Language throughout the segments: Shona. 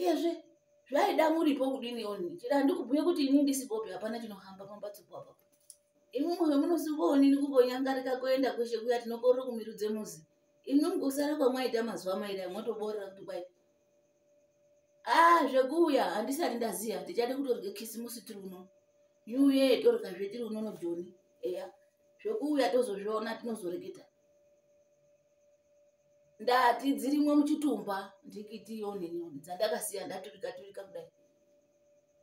iyezve zvaida muripo kudini oni chira ndikubhuye kuti ini ndisipopi hapana chinohamba pambatso papa imwi mwe munosingoonini kumbonyangarika kuenda kweshe kuya tinokorera kumirudze muzi imwi mkusara kwamwaita mazuva mairi amwotoborera kuti kwai a ah, zvekuuya handisati ndaziva tichade kutorye kisimusi tiri uno new year torikazve tiri uno nojoni eya zvekuuya tozozviona tinozoreketa ndati dzirimwo muchitumba ndikiti yonenioni dzandakasiya ndaturika turika kudai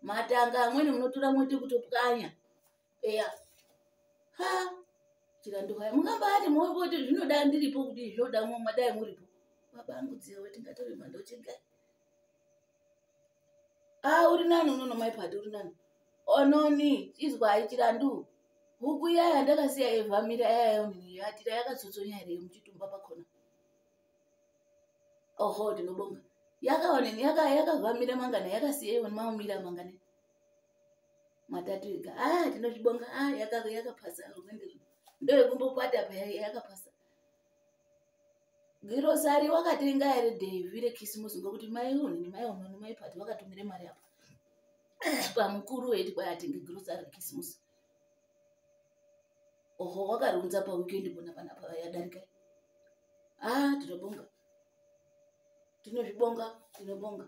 matanga amweni munotura moti kutopwanya eya ha chirandohaya mungambati moti zvinoda ndiripo kuti zvinoda mwadai muripo babangu dziwe tingatore mandochega ah uri nani unono mai pati uri nani ononi izwai chirandu huku iyaya ndakasiya yevamira yayayo mhiri yatira yakatsotsonya here muchitumba pakona oho ndinobonga yakaoneni yakavamira mangana yakasiya iwoni maumira mangana matatu ega a ah, tinozvibonga a ah, yakapasa rwendo ndoyekumbopata paya yakapasa girosari wakatenga here devi rekisimusi ngokuti mai unini mai unoni mai pati vakatumire mari apa pamukuru weti kwai atenge girosari rekisimusi oho wakariunza paweekend pona panapa yadarika a ah, tinobonga tinozvibonga tinobonga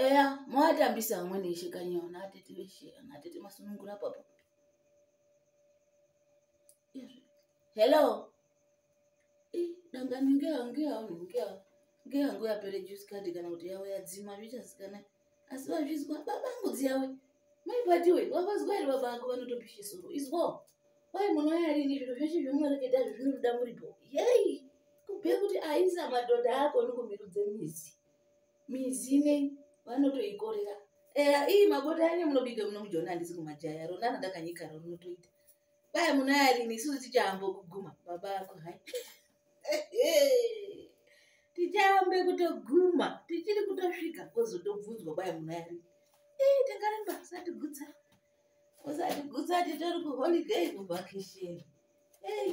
eya mowatambisa amwe neishe kanyiwa naatete veshe naatete masunungura papo hello dangani ngeya ngeya ngeya ngeya ngo yapere juice card kana kuti yawe yadzima zvichasikana asi vazvizwa baba angu dziyawe mai vatiwe wavazwa here baba ako vanotopisha soro izwo kwai munouya rini zviro zveshe zvemunoreketa zvo zvinoruda muripo yei kubve kuti aisa madhodha ako nikumirudze mizi mizi inei vanotoikorera eya ii magota ane munobika muno mujona handisi kumajaya ronana ndakanyika ronotoita kwai munaya rini isusu tichaambo kuguma baba ako hai tichaambe kutoguma tichiri kutosvika kozotobvunzwa kwai munaya rini ii tingaramba usatigutsa usatigutsa titori kuholiday kuvhakisheni ei